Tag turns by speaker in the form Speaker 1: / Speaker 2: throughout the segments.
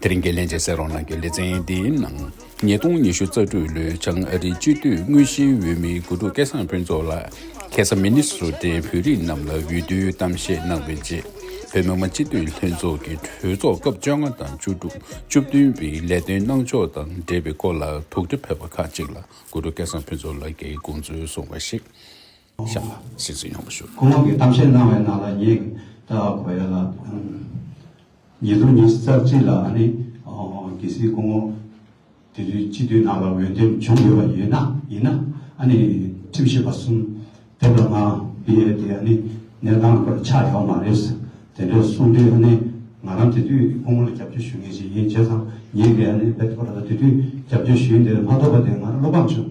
Speaker 1: དེ་རིང་གི་ལྷན་ཅིག་སེར་རོང་ནང་གི་ལེ་ཚན་འདིའི་ནང། ཉིས་སྟོང་ཉི་ཤུ་རྩ་དྲུག་ལོའི་བྱང་ཨ་རིའི་སྤྱི་འཐུས་དངོས་གཞིའི་འོས་མི་དགུ་ཕྲུག་སྐལ་བཟང་ཕུན་ཚོགས་ལགས་ཁེ་སཱ་མི་ནི་སུ་ཏན་བོད་རིགས་རྣམས་ལ་འོས་བསྡུའི་གཏམ་བཤད་གནང་བའི་རྗེས། བོད་མི་མང་སྤྱི་འཐུས་ལྷན་ཚོགས་ཀྱི་གྲོས་ཚོགས་སྐབས་བཅོ་ལྔ་དང་བཅུ་དྲུག་བཅུ་བདུན་པའི་ལས་དོན་གནང་ཕྱོགས་དང་འབྲེལ་བའི་སྐོར་ལ་དོགས་འདྲི་ཕེབས་པ་ཁག་ཅིག་ལ་དགུ་ཕྲུག་སྐལ་བཟང་ཕུན་ཚོགས་ལགས་ཀྱིས་དགོངས་ཚུལ་གསུངས་པ་ཞིག། ཤ་ལ་སྲིད་རྩེ་
Speaker 2: ཡངས་པོ་ཞུ། ཁོ་མོ་གི་གཏམ་བཤད་གནང་བའི་ནང་ལ་ངས་ད་གོ་ཡ་ལ་ཉེ་དུ་ཉེ་རྩ་གཅིག་ལ་ཨ་ནི་གལ་སྲིད་ཁོ་མོ་དེ་དུས་སྤྱི་འཐུས་ནང་ལ་འོས་འདེམས་བྱུང་ཡོད་པ་ཡིན་ན་ཡིན་ན་ཨ་ནི་ཁྲིམས་ཞིབ་པ་གསུམ་དེ་ལ་ང་བི་ཡས་དེ་ཨ་ནི་གནས་སྟངས་པར་ཆགས་ཡོང་མ་རེད་ཟེར་དེ་འདྲས་གསུངས་དུས་ཨ་ནི་ང་རང་དེ་དུས་ཁོ་མོ་ལ་རྒྱབ་སྐྱོར་ཞུ་མཁན་ཞིག་ཡིན་བྱས་ཙང་ངས་དེ་ཨ་ནི་བེད་སྤྱོད་པ་ལ་དེ་དུས་རྒྱབ་སྐྱོར་ཞུ་ཡུན་དེ་མ་ཐོབ་པ་དེ་ང་རང་བློ་ཕམ་བྱུང་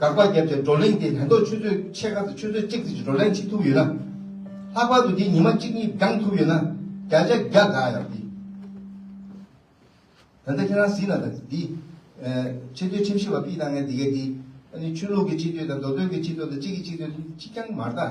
Speaker 3: དགག་པ་བརྒྱབ་ཀྱང་བགྲོ་གླེང་དེས་དོན་ཐོག་ཆུ་ཚོད་ཕྱེད་ཀ་དང་ཆུ་ཚོད་གཅིག་ཙམ་གྱི་བགྲོ་གླེང་བྱེད་ཐུབ་ཡོད་ན། ལྷག་པར་དུ་དེ་ཉི་མ་གཅིག་གཉིས་བགྲང་ཐུབ་ཡོད་ན་བརྒྱ་ཆ་བརྒྱ་དགའ་ཡག་འདི། ད་ལྟ་ཁྱེད་རང་གཟིགས་ན་དང་འདི། ཆེ་བསྟོད་ཁྲིམས་ཞིབ་པ་པི་ད་ངས་འདི་གས་འདི། ཨ་ནི་ཆོས་ལུགས་ཀྱི་ཆེ་བསྟོད་དང་མདོ་སྟོད་ཀྱི་ཆེ་བསྟོད་དང་གཅིག་གིས་གཅིག་བསྟོད་གཅིག་རྐྱང་མ་རྟ།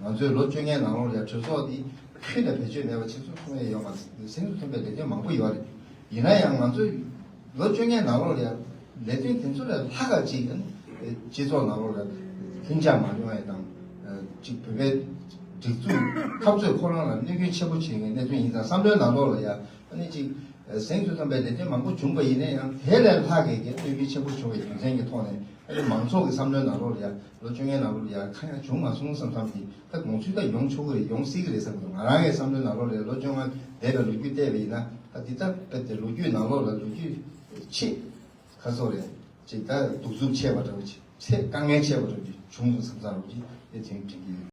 Speaker 3: ང་ཚོས་ལོ་བཅོ་ལྔའི་ནང་ལོ་ལེགས་གྲོས་ཚོགས་འདི་ཕུལ་ནས་བེད་སྤྱོད་མེད་པ་ཆེ་ཚུལ་མཐོང་ཡས་ཡོད་མ་རེད། སེམས་སུ་ཐོན་པའི་ལས་དོན་མང་པོ་ཡོད་རེད། ཡིན་ན་ཡང་ང་ཚོས་ལོ་བཅོ་ལྔའི་ནང་ལོ་ལེགས་ལས་དོན་དེ་ཚོ་ལས་ལྷག་ག་ཅིག་ཡང་སྤྱི་ཚོགས་ནང་ལོ་ལེགས་ལྷིང་འཇགས་མ་ཡོང་ཡས་དང། གཅིག་བོད་པའི་སྒྲིག་འཛུགས་འཐབ་རྩོད་ཁོ་རང་ལ་གནོད་སྐྱོན་ཆེན་པོ་བྱེད་མཁན་གནད་དོན་ཡིན་ཙང་བསམ་བློའི་ནང་ལོ་ལ་ཡང་ནི་གཅིག་སེམས་སུ་ཐོན་པའི་ལས་དོན་མང་པོ་བྱུང་པ་ཡིན་ན་ཡང་དེ་ལས་ལྷག་ག་གིས་གནོད་སྐྱོན་ཆེན་པོ་བྱུང་བའི་རྒྱུ་མཚན་གྱི་ཐོག་ནས་ཨ་ནི་མང་ཚོགས་ཀྱི་བསམ་བློའི་ནང་ལོ་ལ་ཡང། ལོ་བཅོ་ལྔའི་ནང་ལོ་རེ་ཡར་ཁ་ཡར་བྱུང་མ་སོང་བསམ་བསམ་གྱིས་ད་དགོངས་ཚུལ་ད་ཡོང་ཆོག་གི་རེད་ཡོང་སྲིད་ཀྱི་རེད་བསམ་གྱིས་ང་རང་གི་བསམ་བློའི་ནང་ལོ་རེར་ལོ་བཅོ་ལྔ་འདས་པའི་ལོ་རྒྱུས་བལྟས་པ་ཡིན་ན་ད་འདི་ལྟར་ཕེབས་ཏེ་ལོ་རྒྱུས་ནང་ལོ་ལ་ལོ་རྒྱུས་ཆེད་ཁ་གསོ་རེ་བྱེད་ད་གདུག་རྩུབ་ཆེ་བ་འདྲ་བོ་ཆེ་ཚེ་དཀའ་ངལ་ཆེ་བ་འདྲ་བོ་བྱུང་སོང་བསམ་བསམ་གྱིས་དེ་དོན་དྲན་གྱི་ཡོད།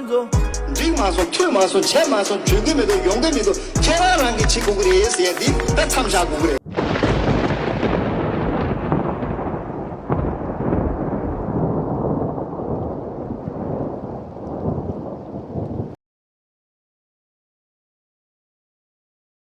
Speaker 4: འགྲིག་མ་སོང་ཐུས་
Speaker 5: མ་སོང་བྱས་མ་སོང་བྱོས་གི་མི་འདུག་ཡོང་གི་མི་འདུག་ཁྱེད་རང་རང་གིས་བྱེད་དགོས་ཀྱི་རེད་ཟེར་ཡས་འདི་ད་མཚམས་བཞག་དགོས་ཀྱི་རེད།